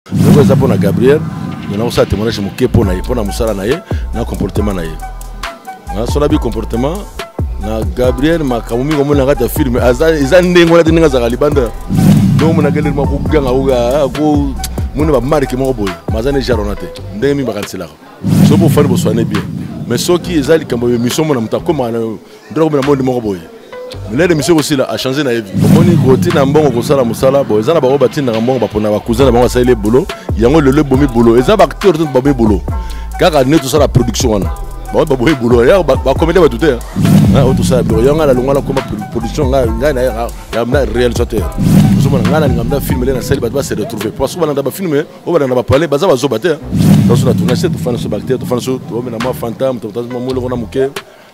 Yango eza mpo na Gabriel me nakosala témoignage moke mpo na ye mpo na mosala na ye na comportement na ye nasola bi comportement na Gabriel makambo mingi omona kati ya filme eza ndenge wana te ndenge azalaka libanda donc omonaka eleli moko koganga ko mona bamarke moko boye maza ne jarona te ndenge mingi bakaniselaka soki bofani boswane bien mais soki eza likambo ya émission mona moto akomaka ndako na monde moko boye milede misio kosila achange na ye vi omoni kotina mbongo kosala mosala bo eza na bango batindaka mbongo bapona bacousin na bango asaleli ebolo yango lelo ebomi bolo eza baacteur to babomi bolo kaka nde tosala production wana bango baboyi bolo ya bakomede bato te oyo tosala biloko yango ngai nalongwa nakoma production ngai na réalisateur ozomona ngai nalinga mda film le nasali bato base retrouve parce que balanda bafilme oyo balanda bapale baza bazoba te toso na tournage te tofanda so bacteur tofanda so omena mwa fantam totazmwa moloko na moke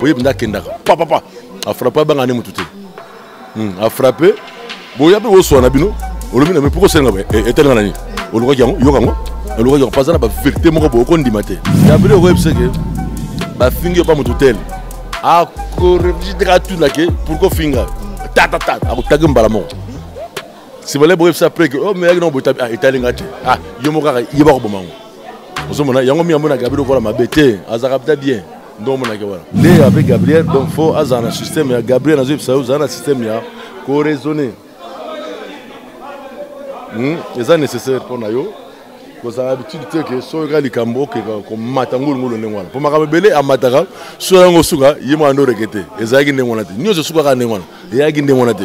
oyebi nde akendaka papapa afrappe abanga ne motu te hmm, afrappe boya mpe boswa na bino olobi na me mpo kosenga boye eh, etelenga na nini olukaki yango yoka yango olukaki yango paza na baverité moko boye okondima te yabili okoyebisa ke bafingi yo mpa motu tele akoreflechi te katuna ke pourkoi ofinga tatatata akotaki mbala moko sibale boyebisa mpe ke omeyaki nango botabi ah, etali nga te ah, yo moko kaka yeba koboma yango ozomona yango mi yambo na gabi lokola mabe te azalaka pita bien ndo omonaki wana lea mpe gabriel donc fo azala na systeme ya gabriel nazoyebisa yo ozala na systeme ya koraisonne hmm? eza nécessaire mpo na yo kozala habitude te ke soki kaka likambo okeka komata ngulungulu ndenge wana mpo makambo ebele amataka soki yango osuka ye mwana nde oreke te ezalaki ndenge wana te nyonso esukaka ndenge wana eyaki ndenge wana te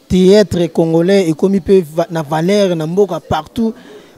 theatre congolais ekomi mpe na valeur na mboka partout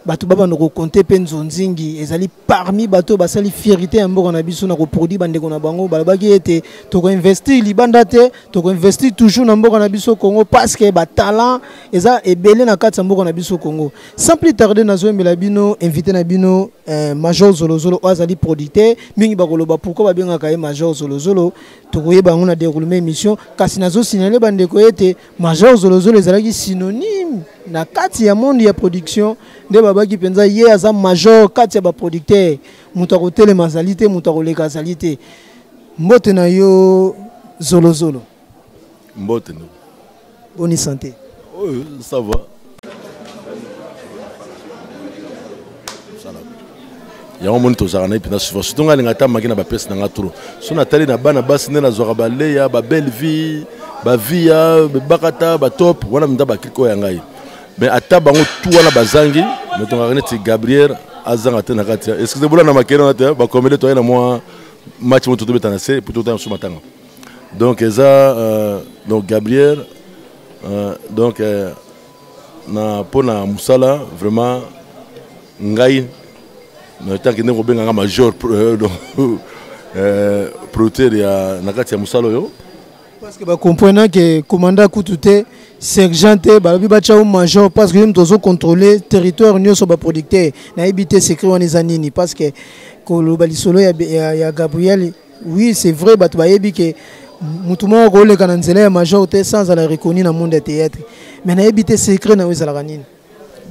bato babanda kokonte mpe nzonzingi ezali parmi bato oyo basali fierité ya mboka na biso na koproduit bandeko na bango balobaki ete tokoinvestir libanda te tokoinvestir toujours na mboka na biso congo parce que batalent eza ebele na kati ya mboka na biso congo sans plus tarde nazoyembela bino invité na bino eh, major zolozolo oyo azali producteur mingi bakoloba pourkui babengaka ye major zolozolo tokoyeba yango na deroulement émission kasi nazosinale bandeko ete major zolozolo ezalaki synonyme na kati ya monde ya production nde babaki mpenza ye aza major kati ya baproducteur moto akotelema azali te moto akoleka azali te mbote na yo zolozolo mbote no. boni sante oyo sava yango moni tozalaka na ye mpenza souvent surtout ngai alinga ata maki na bapesi na ngai trop so natali na bana basi nde nazwaka baleya babelle vie bavia bakata batop wana mpenza bakrike oyo ya ngai mais ata bango tu wana bazangi metongaka neti gabriel azanga te na kati excuse bola na makele wana te bakomele toye na mwa match moto tobeta na se po totanga mosusu matanga donc eza euh, donc gabriel euh, donc euh, na mpo na mosala vraiment ngai na ntanke ndenge kobenga nga major euh, euh, producteur ya na kati ya mosala oyo parce que bacomprena ke commanda kutu te sergent te balobi batya yo major parce que yo moto ozocontrole territoire nyonso baproducteur nayebi te secret wana eza nini parce que koloba lisolo ya, ya, ya gabriel oui c'est vrai bato bayebi ke motu moko koleka na nzela ya major te sans azala reconnu na monde ya théâtre mais nayebi te secret na yo ezalaka nini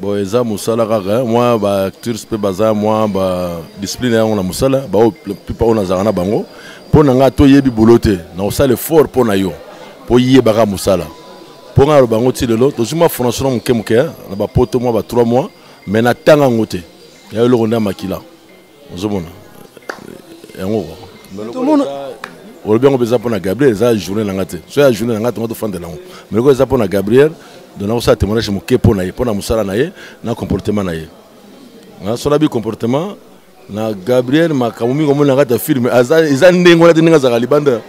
bon eza mosala kaka eh. mwa baacteurs mpe baza mwa badiscipline yango na mosala baoyo plupart oyo nazalaka na bango mpo na ngai toyebi bolo te nakosala effort mpo na yo mpo yebaka mosala mpo ngai aloba yango ti lelo tozwi mwa formation na moke moke eh, na bapoto mwa ba 3 mois mais natanga yango te ya eloko nde ya makila ozomona yango olobi yango mpenza mpo na gabriel eza journée na ngai te so ya journée na ngai tonga tofandela yango mais lokola eza mpo na gabriel donc nakosala témoignage moke mpo na ye mpo na mosala na ye na comportement na ye so nabi comportement na gabriel makambo mingi omoni na kati ya filme eza ndenge wana te ndenge azalaka libanda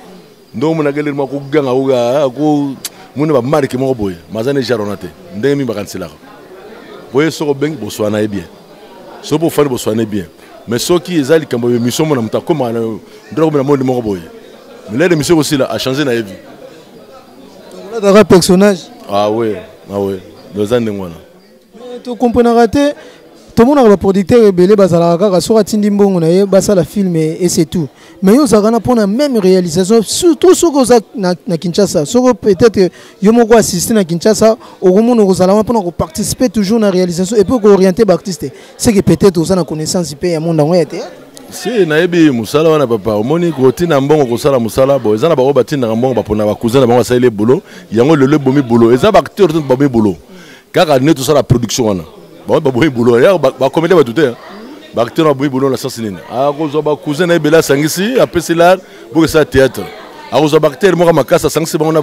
ndo omonaka eleli mwa koganga oga ko mona bamarke moko boye maza na ejare wana te ndenge mingi bakaniselaka boye soki obengi boswana ye bien soki mpo ofandi boswana ye bien mais soki eza likambo ya emission mona moto akoma ndo nakomela monde moko boye milele emission ekosila achange na ye vie personnage awe ah awe ah oza ndenge wana Eh, to comprenaka te tomonaka baproducteur ebele bazalaka kaka soki atindi mbongo na ye basala film et c'est tout mais yo ozalaka na mpona même réalisation surtout soki oza na, na kinshasa soki peut-être yo moko assiste na kinshasa okomona okozala wana mpona koparticiper toujours na réalisation epuis kooriente baartiste seke peut-être oza na connaissance mpe ya monde yango ya théâtre si nayebi mosala wana papa omoni kotina mbongo kosala mosala bo eza na bango batindaka mbongo bapona bacousin na bango asaleli ebolo yango lelo ebomi bolo eza baacteur to babomi bolo kaka nde tosala production wana bango baboyi boulot ya bakomede bato te baacteur baboyi boulot na sens nini akozwa bacousin na ye bele asangisi apesi lar bokesala théâtre akozwa baacteur moko makasi asangisi bango na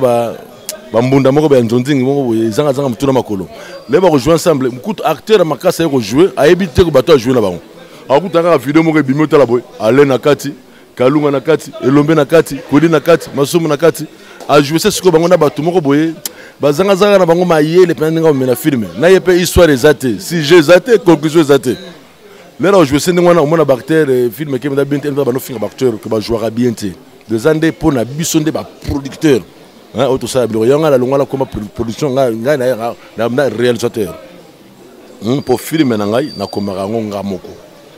bambunda moko ya nzonzingi moko boye ezangazanga motu na makolo le bakojoue ensemble kutu acteur ya makasi aye kojoue ayebi te bato ajoue na bango akuta kaka video moko ebimi otala boye ale na kati kalunga na kati elombe na kati kodi na kati masumu na kati ajouese sikoyo bango na bato moko boye bazangazanga na bango mayele mpenza ndenge amemela filme na ye mpe histoire eza te sujet eza te conclusion eza te lelo ajouese ndenge wana omona baacteur eh, film eke mpenza bien te mpe banofinga baacteur ke bajouaka bien te eza nde mpo na biso nde baproducteur oyo tosala biloko yango ngai nalongwala koma production ngai na réalisateur mpo hmm, filme na ngai nakomaka yango nga moko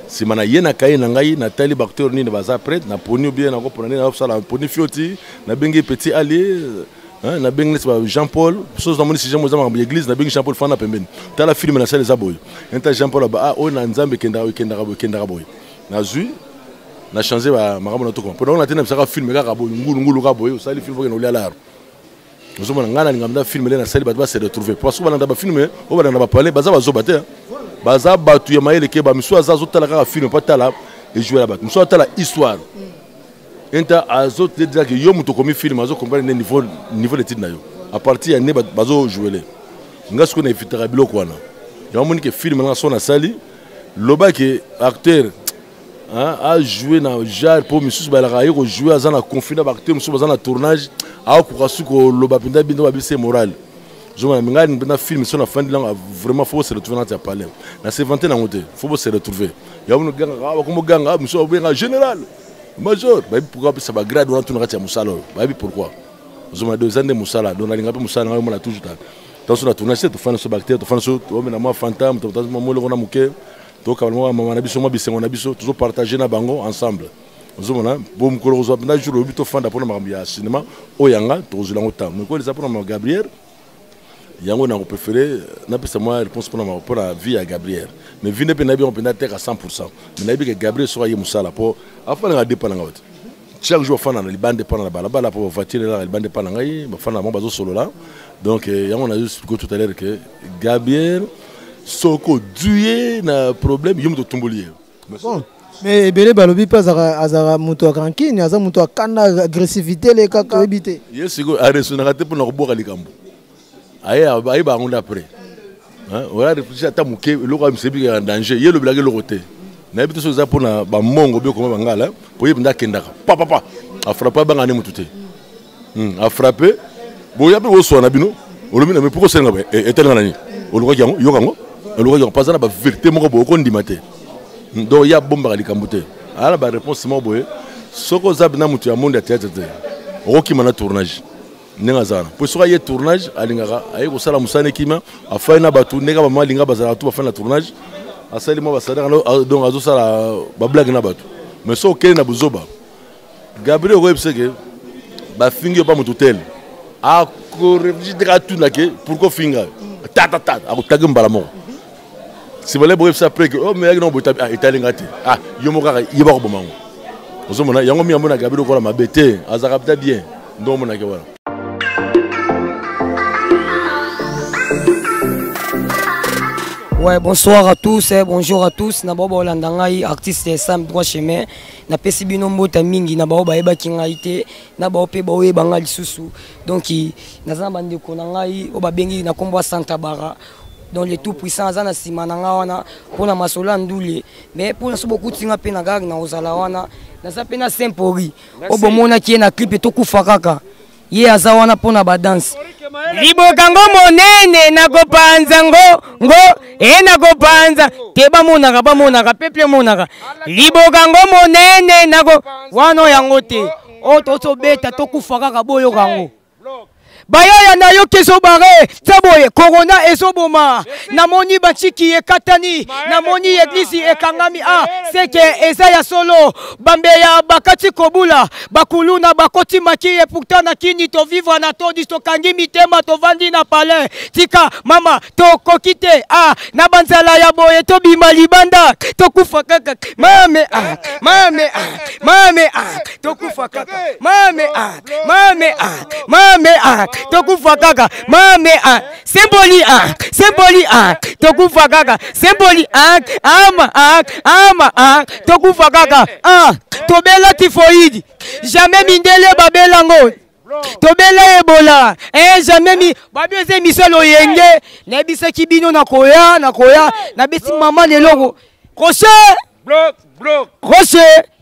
nsima na ye na kaye na ngai natali bacteur nini baza prete naponi obie nakopona nini nakosala naponi fioti nabengi petit ali nabengi neti ba jean paul soso namoni si jean paul eza makambo ya église nabengi jean paul fana pembeni tala filme nasala eza boye neta jean paul aba ah, oyo na nzambe ekendaka ekendaka boye ekendaka boye nazwi na change makambo na tokoma mpo naona te na bisaka filme kaka boye ngulungulu kaka boye osali filme okende olia laro ozomona ngai nalinga mda filme nde nasali bato base retrouve po soki balanda bafilme oyo balanda bapale baza bazoba te baza bato ya mayele ke bamisusu aza azotala kaka filme mpo atala ejoue ya bato mosusu atala histoire enta azotedrake yo moto okomi filme azokomprendre nde niveau, niveau d'étude na yo à partir ya nde bazojouele ngai sikoyo na evitaka biloko wana yango amoni ke filme nanga so nasali lobake acteur Hein, a jouer na genre mpo misusu balaka aye kojouer aza na conflit na baacteur mosusu baza na tournage akokoka su koloba mpenza bino babise morale zongana mingai mpenza film so nafandi langa vraiment fo bose retrouve nati ya palais na se vante nango te fo bose retrouve yango nogangaka ah, bakomo ganga ah, mosusu babenga général major bayebi pourkui apesa bagrade wana tuna kati ya mosala oyo bayebi pourkui ozomona do eza nde mosala do nalinga mpe mosala nanga omona toujours ta tanso na tournage te tofandi so baacteur tofandi so omena mwa fantam totazomamoloko na moke tokabala mwa mama na biso mwa bisengo na biso tozopartage na bango ensemble ozomona bo mokolo kozwa mpenza jour oyebi tofanda mpona makambo ya cinéma oyo yanga tokozwela yango ntango mekolo eza mpona ma gabriel yango nako préféré napesa mwa réponse mpona mako mpona vie ya gabriel mais vie nde mpe nayebi yango mpenza teka 100 pourcent mais nayebi ke gabriel soki aye mosala mpo afandaka depa na ngai te chaque jour bafanda na libanda epa na balabala mpo bavoiture elaka libanda epa na ngai bafanda bango bazosolola donc eh, yango nazo explike tout à l'heure que gabriel soki ozwi ye na problème yo moto otumboli ye bon mais ebele balobi mpe azalaka moto ya rankine aza moto akanda agressivité elekaka oyebi te ye sikoyo aresonaka te mpo na kobwaka likambo aye aye bango nde après oya réfléchir ata moke eloko ya misebi ya danger ye elobelaki eloko te nayebi te soki eza mpona bamongo obi okoma bangala po ye mpenza akendaka papapa afrappe abanga nde motu te hmm, afrappe boya mpe boswa na bino olobi na mpo kosenga boye eh, etelenga na nini olukaki yango yoka yango olukaki yango paza na baverité moko boye okondima te hmm, donc ye abombaka likambo te aya na baréponse moko boye soki oza bina motu ya monde ya théâtre te okokima na tournage ndenge aza wana mpo soki aye tournage alingaka aye kosala mosala na ekima afai na bato ndenge bama alinga bazalaka tu bafai na tournage asali mwa basadaka donc azosala bablage na bato mais soki okei na buzoba gabriel okoyebisa ke bafingi yo mpa moto tele akoreflechi ndenge atuna ke pourkoi ofinga yo tatatata akotaki mbala moko sibale boyebisa mpe ke oh, meyaki nango botabi ah, etali nga te ah, yo moko kaka yeba koboma yango ozomona yango mingi amonaka bino kola mabe te azalaka pita bien nde omonake wana Ouais, bonsoir à tous, eh, bonjour à tous. Na baba olanda ngai artiste Sam droit chemin. Na pesi bino mbota mingi na baba bayeba ki ngai te. Na baba pe baoye banga lisusu. Donc nazana bande ko na ngai obabengi na kombo Santa Bara. donc le tout puissant aza na sima na nga wana mpo na masolo ya ndule mais mpo na so bokuti nga mpe na gare na kozala wana naza mpe na sempori oyo bomonaki ye na clipe tokufa kaka ye aza wana mpo na badanse liboka ngo monene nakopanza ngo ngo e nakopanza te bamonaka bamonaka peple emonaka liboka ngo monene nako wana yango te oyo tosobeta tokufa kaka boyoka yango bayaya na yo kezobare za boye korona ezoboma namoni bantiki ekatani namoni eglizi ekangami a ah, seke eza ya solo bambeya bakati kobula bakuluna bakoti maki epouta na kini tovivre na todi tokangi mitema tovandi na palais tika mama tokoki te a ah, na banzala ya boye tobima libanda tokufa kaka mame a ah, mame a mame a tokufa kaka mame a mame a mame a tokufa kaka mame a semboli a semboli a tokufa kaka semboli a ama a ama a tokufa kaka a tobela tifoidi jamais mindele babela yango tobela ebola eh, jamais mi babi eza emission loyenge nayebisaki bino nakoya nakoya nabesi mama leloko rocher rocher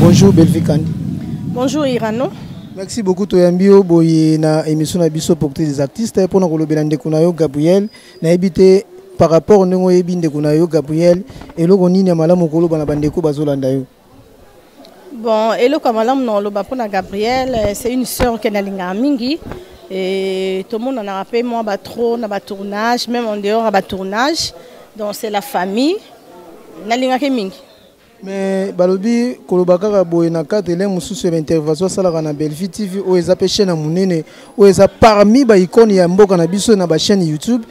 Bonjour Bellevue Kandi. Bonjour Irano. Merci beaucoup toyambi yo boye na émission na biso porte des artistes mpo na kolobela ndeko na yo Gabriel nayebi te par rapport ndenge oyebi ndeko na yo Gabriel eloko nini ya malamu koloba na bandeko bazolanda yo Bon, eloko ya malamu na oloba mpo na Gabriel, euh, c'est une sœur ke nalingaka mingi et tomonanaka mpe mwa ba trop na ba tournage même en dehors ya ba tournage donc c'est la famille nalingaki mingi mais balobi koloba kaka boye na cadre elenge mosusu ya baintervention asalaka na bellevue tv oyo eza mpe chaîne ya monene oyo eza parmi baicone ya mboka na biso na bachaîne youtube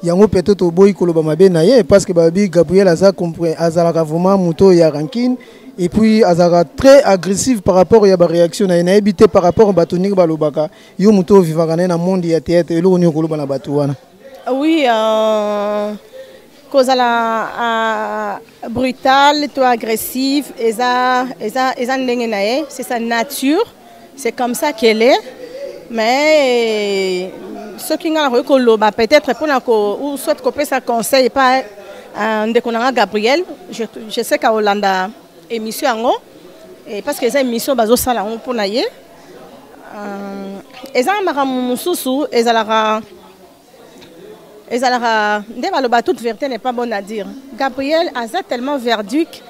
yango peut-être toboyi koloba mabe na ye parce que babi Gabriel aza azalaka vraiment moto ya rancune et puis azalaka très agressif par rapport ya ba réaction na ye nayebi te par rapport bato ndenge balobaka yo moto ovivaka na ye na monde ya théâtre eloko nini okoloba na bato wana ah oui euh... kozala uh, brutal to agressive eza, eza, eza ndenge na ye c'est sa nature c'est comme ça qu'elle est mais soki ngai nakoki koloba peut-être mpona ou soit kopesa conseil epa euh, ndeko na ngai gabriel je, je sais kaolanda émission yango parce que eza émission bazosala yango mpona ye euh, eza makambo mosusu ezalaka ezalaka nde baloba toute vérité n'est pas bonne à dire gabriel aza tellement verduque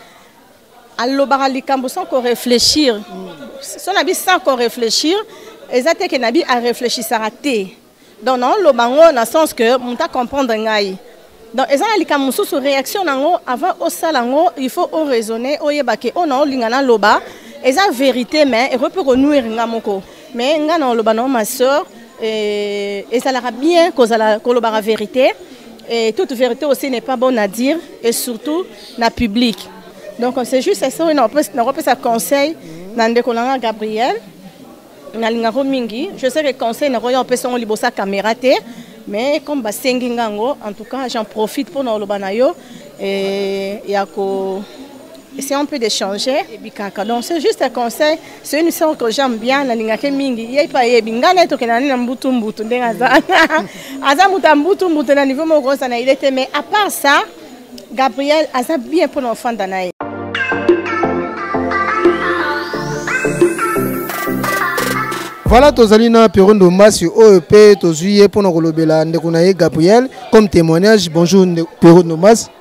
alobaka likambo sans ko réfléchir so na bi sans ko réfléchir eza te ke na bi a réfléchissaka te donc naoloba yango na sens que moto acomprendre ngai donc eza na likambo mosusu réaction na yango avant osala yango il faut oraisonne oyeba ke oyo naolinga naloba eza vérité mais ekoki mpe konuire ngai moko mais nga na oloba na ma sœur eh, ezalaka bien kozala kolobaka vérité et toute vérité aussi n'est pas bonne à dire et surtout na public donc c'est juste ça oyo nakopesa conseil na ndeko na nga gabriel nalingako mingi je sais que conseil nakoya opesa yango liboso ya caméra te mais comme basengi nga yango en tout cas j'en profite mpo na oloba na yo eh, ya ko essayons un peu d'échanger et bikaka donc c'est juste un conseil soki misala ko jambe bien nalingaki mingi ye mpe ayebi ngai naye tokenda nde na mbutu mbutu ndenge aza aza moto ya mbutu mbutu na niveau moko oza na ile te mais à part ça gabriel aza bien mpo na ofanda na ye voilà tozali na pierro ndombasi oyo mpe tozwi ye mpo na kolobela ndeko na ye gabriel comme témoignage bonjour pierro ndombasi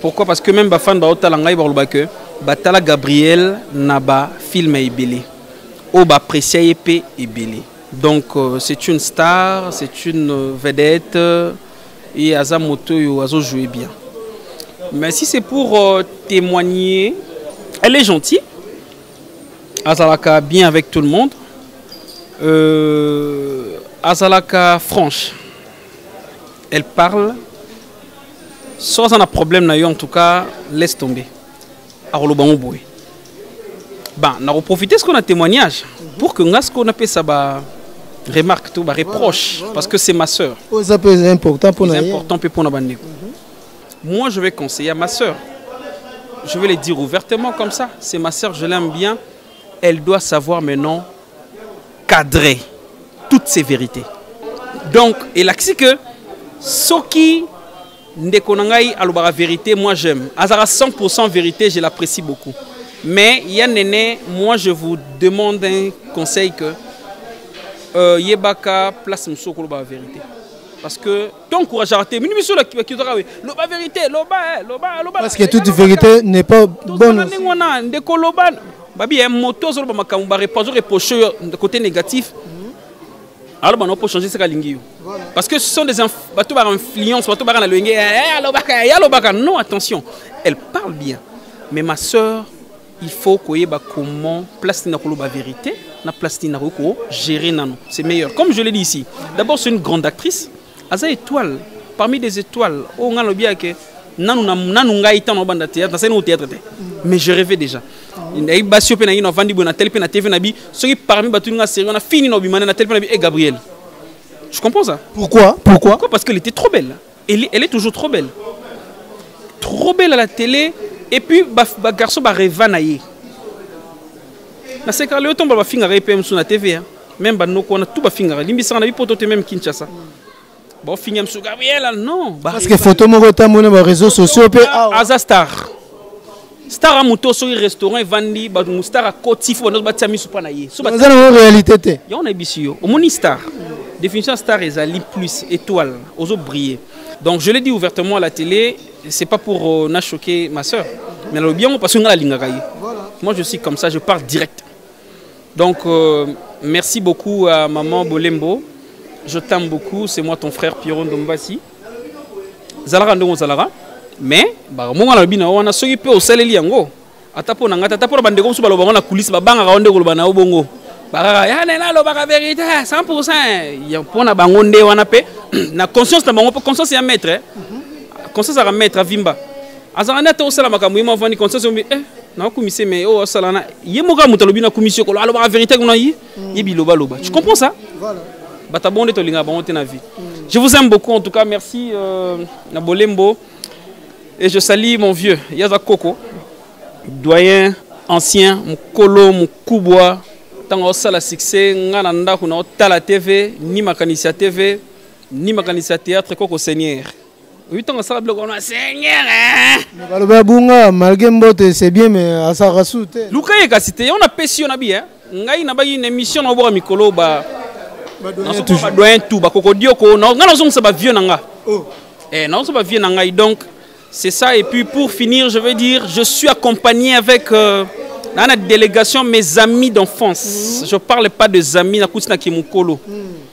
Pourquoi parce que même ba fans ba otala ngai ba loba que ba tala Gabriel na ba film ebele. O ba apprécier ye pe ebele. Donc euh, c'est une star, c'est une euh, vedette euh, et aza moto yo azo jouer bien. Mais si c'est pour euh, témoigner, elle est gentille. Azalaka bien avec tout le monde. Euh, Azalaka franche. Elle parle soki aza na problème na yo en tout cas laisse tomber akoloba yango boye ba nakoprofite sikoyo na témoignage pour que nga sikoyo napesa ba remarque to ba reproche voilà, parce que c'est ma sœur oyo eza mpe important mpo na important mpe mpo na bandeko moi je vais conseiller à ma sœur je vais le dire ouvertement comme ça c'est ma sœur je l'aime bien elle doit savoir maintenant cadrer toutes ces vérités donc elakisi que soki ndeko na ngai alobaka vérité moi j'aime azalaka 100 vérité je l'apprécie beaucoup mais ya nene moi je vous demande un conseil que euh, yebaka place mosusu okoloba vérité parce que t'encourageaka te mini miso bakitaka we loba vérité loba eh, loba loba parce que toute vérité n'est pas bonne ndenge wana ndeko loba babi ya eh, moto azoloba makambo barepazo reproche yo côté négatif alors bana po changer saka lingi yo parce que ce sont des bato ba influence bato ba na loyenge eh, alobaka ya alobaka non attention elle parle bien mais ma sœur il faut koyeba comment place nini nakoloba vérité na place nini nakoki kogérer nano c'est meilleur comme je l'ai dit ici d'abord c'est une grande actrice aza étoile parmi des étoiles oyo oh, ngai nalobi yake nanu nanu ngai ntango nabanda théâtre nasali nango théâtre te mais je rêvais déjà nayebi basi yo mpe nangi navandi boye natali mpe na tv na bi soki parmi bato ninga série wana fini na obima nde natali mpe na bi e eh, gabriel je comprends ça pourquoi pourquoi, pourquoi parce qu'elle était trop belle Elle, elle est toujours trop belle. Trop belle à la télé. Et puis, ba, ba garçon, ba rêva na ye. Na se karle otomba ba fingara EPM sur la TV. Hein. Même ba noko na tout ba fingara. Limbi sanga na bi poto te même Kinshasa. Ba fingam sur Gabriel, non. Ba Parce que rêva. photo moko ta mona ba réseaux sociaux pe awa. Aza star. star amoto soki restaurant evandi bato mostar akoti fo bando batia miso mpa na ye eza nango réalité te yango nayebisi yo omoni star définition ya star ezali plus étoile ozo briller donc je l'ai dit ouvertement à la télé c'est pas pour euh, na choquer ma soeur mais nalobi yango parce que ngai nalingaka ye moi je suis comme ça je pars direct donc euh, merci beaucoup à maman bolembo je t'aime beaucoup c'est moi ton frère pierron dombasi zalaka ndenge ozalaka mais bakamonga nalobi na yo wana soki mpe osaleli yango ata mpo na ngai ata mpo na bandeko mosusu baloba yango na kulisi babangaka yo nde koloba na yo bongo bakaka ya nene alobaka verité 100 pourcent mpo na bango nde wana mpe na conscience na bango mpe conscience ya maître conscience aka maître avimba azalaka nde ata osala makambo ye mavandi conscience ombi eh nakokumise me oyo oh, asalana ye moko ya moto alobi nakumisi yo kolo alobaka verité kuna ye ye biloba loba tu comprends ça voilà bata bonde to linga bango te na vie mm. je vous aime beaucoup en tout cas merci euh, na bolembo et je salue mon vieux yaza koko doyen ancien mukolo mukubwa ntango osala succès nga na ndako na otala tv ni makanisi ya tv ni makanisi ya théâtre koko seigneur oyi ntango asala biloko wana seigneur baloba abunga malgré mbote c'est bien mais asalaka su te luka ye kasi te yango napesi yo na bi ngai nabaki na émission na oboka mikolo ba badoyen tout bakokodioko ngai nazongisa bavieux na nga oh. eh, nazongisa bavieux na ngai donc c'est ça et puis pour finir je veux dire je suis accompagné avec euh, dans la délégation mes amis d'enfance mm -hmm. je parle pas des amis na kutina kimukolo mm -hmm.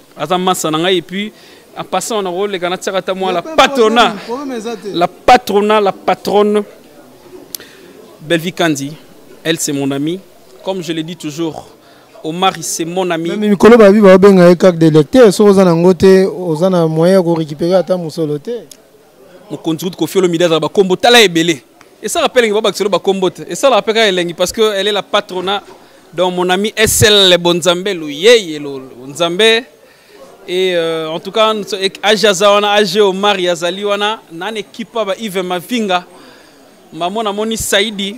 aza masa na ngai epuis en passant na koleka natiaka ata mwa la patrona la patrona la patronne bellevie kandi elle c'est mon ami comme je le dis toujours omar c'est mon ami mikolo babi baobenga ye kak de lecteur soki oza na yango te oza na moyen ya korécupere ata mosolo te mokonzi kutu kofi olomide azala bakombo tala ebele esalaka mpe elengi babakisa elo bakombo te esalaka mpe kaka elengi parce que elle est la patrona donc mon ami sl bonzambe loyeye bonzambe et euh, en tout cas age aza wana age omari azali wana nani ekipa ba ive mavinga mamo namoni saidi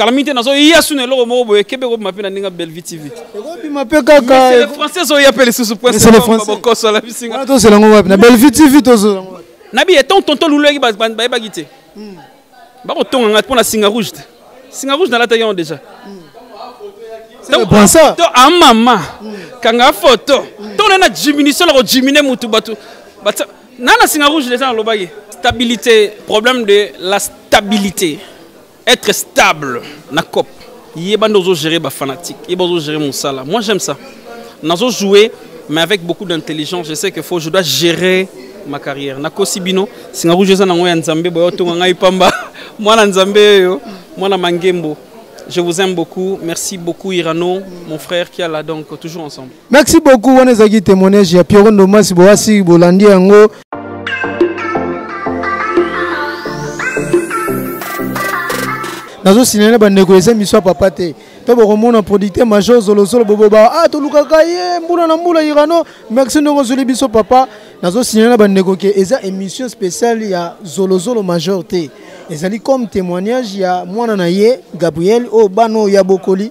kala mingi te nazoya suna eloko moko boye kebe ekobima mpe na ndenge ya bellevue tv ekobima mpe kakafrançais ezoya mpe lisusu poinbokoso alabisinga tozela yango wapi na bellevue tv tozela yango wapi na biye ton tonto luluyaki bayebaki te hmm. bakotonga ngai mpo na singa rouge te singa rouge nalataki yango déjà to amama ah, hmm. kanga foto hmm. to na na diminution na kodimine motu bato nana singa rouge déjà nalobaki stabilité problème de la stabilité Être stable na cop. Yeba ndozo gérer ba fanatiques, yeba ozo gérer musala. Moi j'aime ça. Nazo jouer mais avec beaucoup d'intelligence, je sais que faut je dois gérer ma carrière. Na kosibino, singa rouge eza nango ya Nzambe boyo tonga ngai pamba. Mwana Nzambe yo, mwana mangembo. Je vous aime beaucoup. Merci beaucoup Irano, mon frère qui est là donc toujours ensemble. merci beaucoup wana ezalaki témoignage ya pierro ndomasi boasi bolandi yango nazosilana na bandeko eza miso ya papa te to bokomona producteur major zolozolo boboba ah tolukaka ye mbula na mbula irano merci ndenge ozoli biso papa nazosilana na bandeko ke eza émission spéciale ya zolozolo major te ezali comme témoignage ya mwana na ye gabriel oyo bana oyo ya bokoli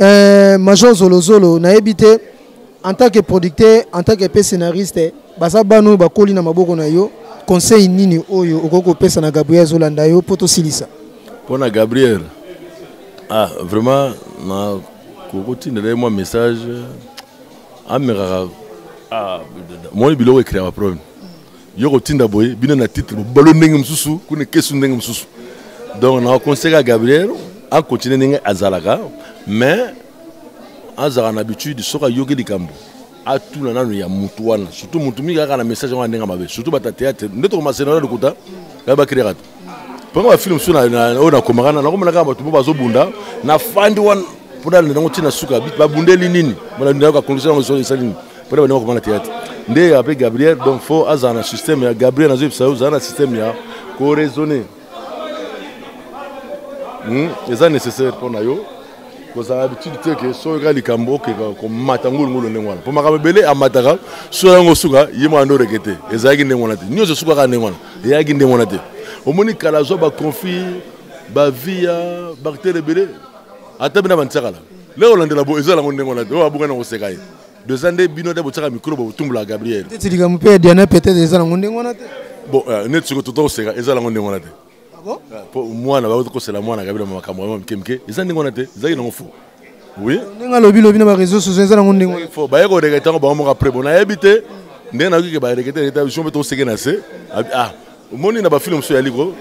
Euh, Major Zolozolo, na ebite, en tant que producteur, en tant que scénariste, baza banu bakoli na maboko na yo, conseil nini oyo okoki kopesa na Gabriel Zolanda yo mpo tosilisa? Mpo na Gabriel, ah, vraiment na kokotindela ye mwa message amekaka ah, moni biloko ekreaka problème yo kotinda boye bino na titre bobalo ndenge mosusu kuna ekesu ndenge mosusu donc na conseil ya gabriel akontinue ndenge azalaka mais azalaka na habitude soki ayoki likambo atuna nano ya motu wana surtout motu mingi kaka na message yango ya ndenge mabe surtout bata théâtre nde tokomasena na lokuta baye bakreaka te mpo ba film mosusu oyo nakomaka na nakomona kaka bato mpo bazobunda na fandi wana mpo nalanda yango ntina suka babundeli nini nayoka condition yango solo esali nini mpo na bandeko komona théâtre nde ape gabriel donc fo azala na système ya gabriel nazoyebisa yo ozala na système ya koraisonne hmm? eza nécessaire mpo na yo kozala habitude te ke soki oyoka likambo okeka komata ngulungulu ndenge wana mpo makambo ebele amataka soki yango osuka ye mwana nde oreke te ezalaki ndenge wana te nyonso esukaka ndenge wana eyaki ndenge wana te omoni kala azwa baconflit bavia bactere ebele ata bina bantiakala leo olandela bo eza yango ndenge wana te oyo abuka na koseka ye doza nde bino nde botiaka mikro botumbola gabriel likambo mpe ya diana peut-être eza nango ndenge wana te bon euh, neti sikoyo tota koseka eza nango ndenge wana te Ah ah, po mwana bakoki kosela mwana kabila makambo yango mike mike eza ndenge wana te ezalaki nango fo oui ndenge alobi lobi na bareseau sociaux eza nango ndenge fo baye korekete yango bango moko apres bo nayebi te ndenge nayoki ke barekete reta biso mpe toseke na se ah omoni na bafilme mosusu yali ko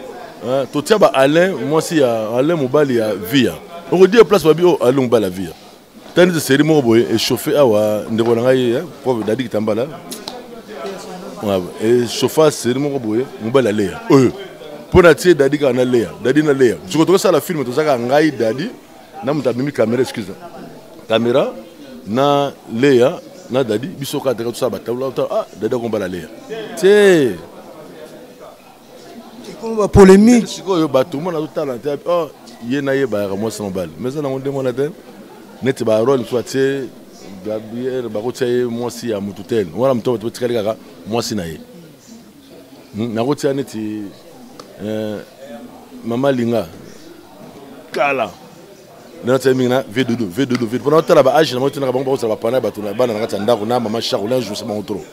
ah, totia ba alain mwasi ya alain mobali ya via okodie place babi o oh, alain mobali ya via tani te seri moko boye echauffe awa ndeko na ngai eh, prof dadi kitambala echauffa eh, seri moko boye mobali aleya oyo eh, mpo na tie dadi kaka naleya dadi naleya siko tokosala filme tozaka ngai dadi na moto amemi kamera excuse kamera na leya na dadi biso kaka teka tosala batabla ah dadi akombala leya te ekoma polemique sikoyo bato mona azotala te oh, ye na ye bayaka mwasi na mobali mais eza nango ndenge wana te neti barole mosusu atie gabriel bakotia ye mwasi ya motu te wana moto bato batikali kaka mwasi na ye hmm, nakotia neti eh, mama linga kala nde natyaki mingi na vedodo vedodo vedo mpona otala baage na bango tinaka bango bakozala bapana ya bato na bana na kati ya ndako na mama charle na jouse bango trop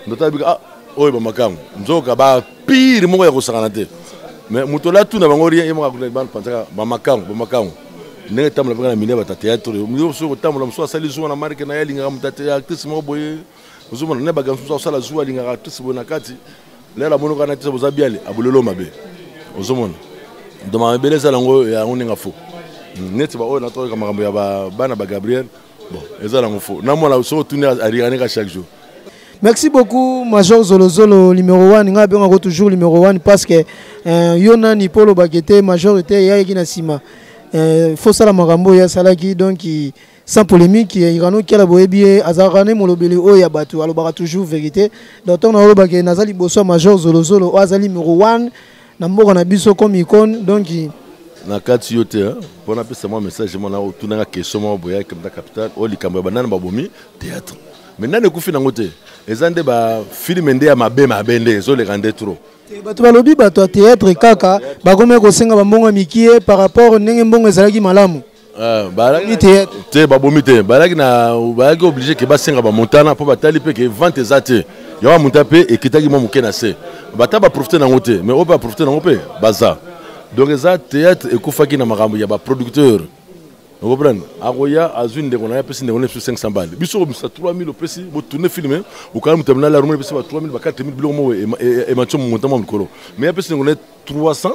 ndo otala bika ah oyo bamakango nzoka bapire moko ya kosakana te mais moto ola tuna bango rien ye moko bapanzaka bamakango bamakango ndenge etambola mpeka na milia batateatre mosusu kotambola mosusu asali zuwa na marke na ye alingaka motate ya actrice moko boye ozomona na baganso mosusu akosala zuwa alingaka actrice boye na kati lelo amoni kaka na actrice boza biale abolelo mabe ozomona doma mabele ezala yango yango ndenge fo hmm, neti baoyo natoyoka makambo ya bana ba gabriel bon eza nango fo na mwana soki otuni arianeka chaque jour merci beaucoup major zolozolo numéro 1 ngai abengako toujours numéro 1 parce que euh, yo nani mpo olobaki te major te eyaki na nsima euh, fosala makambo oyo asalaki donc sans polémique irano kiala boyebi ye azalaka ne molobeli oyo ya bato alobaka toujours vérité donc ntango naolobake naza liboso ya major zolozolo oyo aza numero 1 na mboka na biso comme icone donc na kati yo te mpo napesa mwa message mona otunaka question moko boya kemta capital oyo likambo ya banani babomi théâtre mais nani ekufi nango te eza nde bafilme nde ya mabe mabe nde ezoleka nde trop Eh, bato balobi bato ya théâtre kaka bakomaki kosenga bambongo ya mikie par rapport ndenge mbongo ezalaki malamu Euh, balaki te te babomi te balaki na balaki oblige ke basenga bamontana mpo batali mpe ke vente eza te yango bamonta mpe ekitaki mwa moke na se bata baprofite nango te mais oyo mpe baprofite nango mpe baza donc eza théâtre ekufaki na makambo ya baproducteur okoprendre akoya azwi ndeko na ye apesi ndeko na biso 500 bale biso komisa 3000 opesi botourne filme okala moto ya minala aromoni epesi ba 3000 ba 4000 biloko moko ematio momonta mwa likolo mais apesi ndeko na ye 300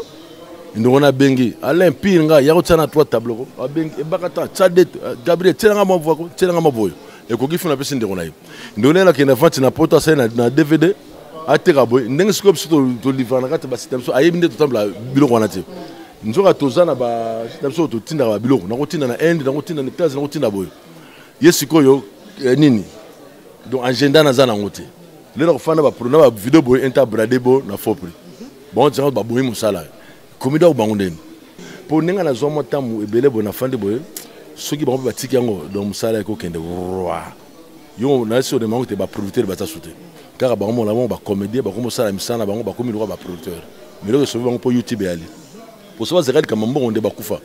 ndongo na bengi alain pire nga ya kotia na 3 tableau ko abengi ebaka ta tia de euh, gabriel tiela nga mwa voix ko tiela nga mwa boyo ekoki funa apesi ndeko na ye ndeko na ye nakende vante na poto asali na, na dvd ateka boye ndenge sikoyo biso tolivra na kati ya basite na biso ayebi nde totambola biloko wana te nzoka toza na basite na biso totindaka babiloko nakotinda na inde nakotinda na etats nakotinda boye ye sikoyo eh, nini donc agenda naza nango te lelo nakofanda bapro na bavideo boye inter brade bo na faux prix bango tiaka baboyi mosala komi dako bango ndeni mpo ndenge nazwa mwa ntango ebele boye nafandi boye soki bango mpe batiki yango donc mosala ekokende roi yo nayesi odema yango te baproducteur baza su te kaka bango mona bango bacomédien bakomi osala misala na bango bakomi lokola baproducteur miloko esobi bango mpo youtube eyali poso bazalaka likambo mbongo nde bakufa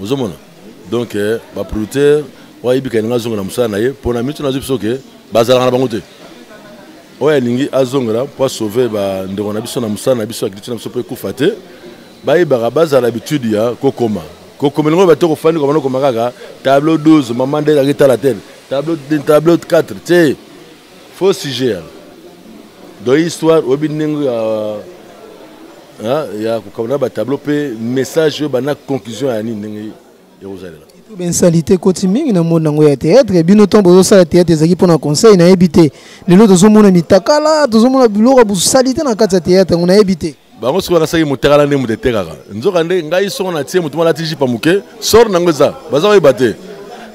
ozomona donc eh, baproducteur oyo ayebika elingi azongela mosala na ye mpo na mitu nazwi biso ke bazalaka na bango te oyo alingi azongela mpo asauve bandeko na biso na mosala na biso akiliti na biso mpo ekufa te bayebaka bazala habitude ya kokoma kokoma elingo bato kofandi kobanda okoma kaka tableau 12 mama nde ezalaki tala tele tableau 4 te Faux sujet ya. Donc histoire oyebi ndenge ya hein, ya kokabana ba tableau pe message oyo bana conclusion ya nini ndenge ekozalela. Bensalite ekoti mingi na monde nango ya théâtre bino ntango bozosala théâtre ezalaki mpo na conseil nayebi te lelo tozomona mitakala tozomona biloko ya bosalite na kati ya théâtre yango nayebi te bango soki banasaki motekala nde moto etekaka nzoka nde ngai soko natie moto malati jipa moke sor nango eza baza koyeba te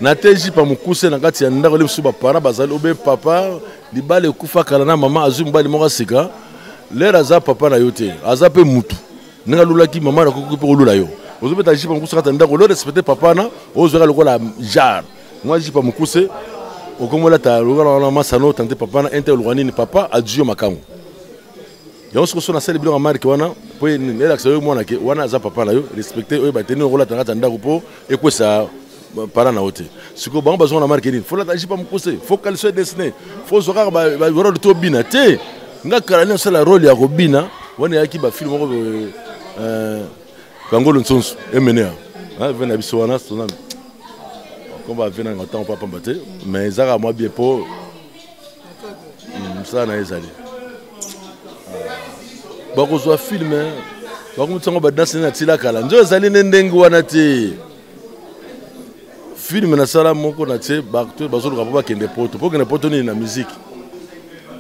na te jipa mokuse na kati ya ndako nde mosusu bapara bazali obe papa libala ekufa kala na mama azwi mobali moko asika lere aza papa na yo te aza mpe motu ndenge alulaki mama nakoki mpe kolula yo ozobeta jipa mokuse kati ya ndako lo respecte papa na ozwaka lokola jar mwa jipa mokuse okomolata lokola wana masano tante papa na inte oluka nini papa adwi yo makango yango soko so nasali biloko ya marke wana mpo elakisa yo mwana ke wana aza papa na yo respecte oyo bateni okolata na kati ya ndako mpo ekwesa para na yo te sikoyo bango bazonga na marke nini folata jipa mokuse fo kaliso edesine fozwa kaka barole to bina te nga kala nini osala role ya kobina wana eyaki bafilme moko euh, kangolo nsonso emenea ah, ve na biso wana sonami komba ve nanga ntango papamba te mais ezaka mwa bien mpo hmm, mosala na ye ezali bakozwa filme bakomitisa yango badanse na tila kala nzo ezali nde ndenge wana te filme nasala moko na tie bato bazoluka mpo bakende poto mpo kende poto nini na miziki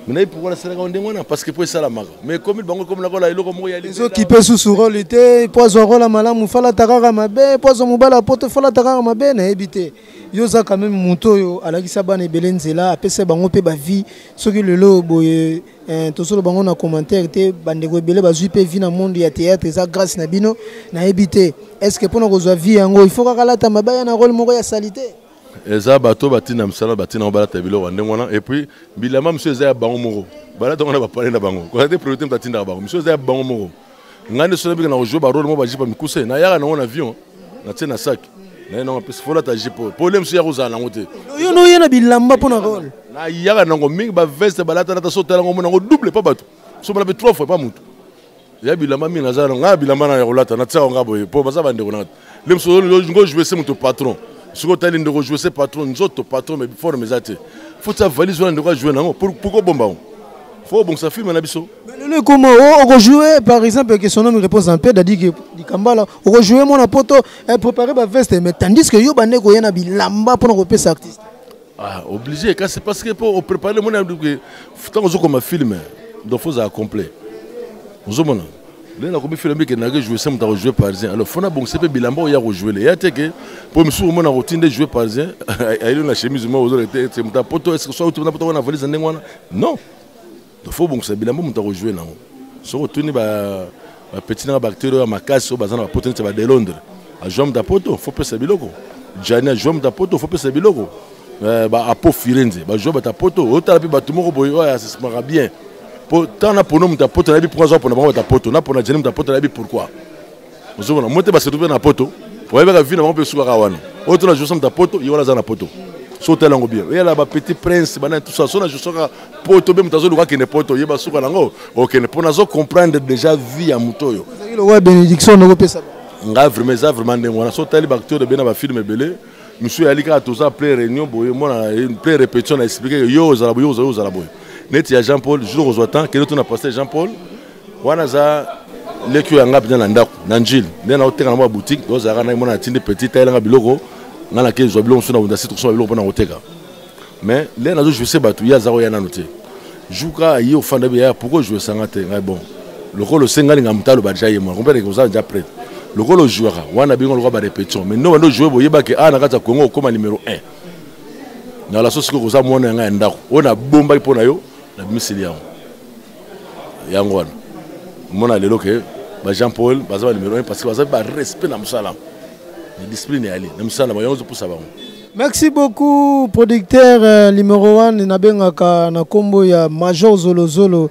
minayi pourkui nasalaka yango ndenge wana parce que mpo esalamaka mais ekomi bango ekomi nakola eloko moko ya ezokipe susu role te mpo azwa role malamu falata kaka mabe mpo azwa mobala poto falata kaka mabe nayebi te yo oza quand même moto oyo alakisa bana ebele nzela apesa bango mpe bavie soki lelo boye eh, tosolo bango na commentaire te bandeko ebele bazwi mpe vie na monde ya théâtre eza grâce na bino nayebi te est ce que mpo na kozwa vie yango il faut kaka lata mabaya na role moko ya salite eza bato batina misala batina yango balata biloko ya ndenge wana epuis bilamba mosusu eza ya bango moko balata yango na bapale na bango kozala te priorité moto atindaka bango mosusu eza ya bango moko ngai nde soki nabika na kojue barole moko bajipe ya mikuse nayaka nango na avion natie na saki naye nango apesi folata jipe oyo pole mosusu ya kozala nango te yo noye na bilamba mpo na role nayaka nango mingi baveste balatalata so otala ngo mona yango double mpa bato so balape trois fois mpa motu ya bilamba mingi naza nango ngai ya bilamba na ya kolata natiaka ngai boye mpo baza bandeko na nde mosusu ngo joue se moto patron soki otali ndeko joue se patron nzoto patron mais forme eza te fo tia valise wana ndeko ajoue nango pourkoi obomba yango fo obongisa filme na biso lelo ekoma oh, okojoue par exemple que son homme réponse en paix dadike likambala okojoue mwana poto eh, préparer baveste mais tandis que yo bande koya na bilamba mpona kopesa artiste ah, obligé kasi parce que mpo oprépare mwana ntango ozokoma filme donc fo ozala complet ozomona lelo nakomi fela mbi ekendaka ejoue se moto akojoue parisien alors fona bongisa mpe bilamba oyo ya kojoue le ya te ke mpo misusu omona akotii nde joue parisien ayeli na chemise moko ozola te ete moto apoto eske soki auti na poto wana valise ndenge wana non donc fo obongisa bilamba moto akojoue nango soki otuni bapeti nanga baacteur oyo ya makasi oyo baza na bapoto neti ba de londres ajoue moto apoto fo pesa biloko jani ajoue moto apoto fo pesa biloko eh, ba apo firenze ba joueur bata poto otala mpe bato moko boye oyo asismaka bien mpo ntango na pono moto ya poto nayebi mpo aza pona bango bata poto na pona jeni moto ya poto nayebi pourquoi ozomona mo te basetu mpe na poto oyebaka vi na bango mpe esukaka wana oyo tona josa moto ya poto ye wana aza na poto so otala yango bien oyala bapetit prince bana tout ça so na josaka poto mpe moto azoluka akende poto ye basuka nango okende mpo nazo comprendre déjà vie ya moto oyo benediction nokopesa nga vraiment eza vraiment ndenge wana so otali baacteur ebena bafilme ebele monsieur yali kaka toza plein réunion boye mwana plein répétition na expliqué que yo ozala boye ozala ozala boye neti ya jean paul jour ozwa temps kende tuna pasteur jean paul wana aza leki oyo yanga mpenza na ndako na njili nde naoteka na mwa boutique ozalaka nai mwana atindi petit ayelanga biloko ngai nake zwa biloko mosusu na wunda si tokosoma biloko mpo na koteka mais lea nazo jouisse bato ye aza koya nano te jouka aye ofanda bi yaya pourkoi ojouisa nga te ngai bon lokola osengani nga moto aloba deja ye mwana comprendre oza deja prête lokola ojouaka wana bingo lokola barépétition mais nobanda ojoue boyebaki a ah, na kati ya congo okóma numéro 1 na laso sikoyo koza mwana ya ngai ya ndako oyo nabombaki mpo na yo nabimiseli yango yango wana omona lelo ke ba jean paul baza ba numéro 1 parce que baza mpe barespect na mosala na discipline eyali na mosala yango ezopusa bango Merci beaucoup producteur euh, numéro 1 nabengaka na kombo ya Major Zolo Zolo.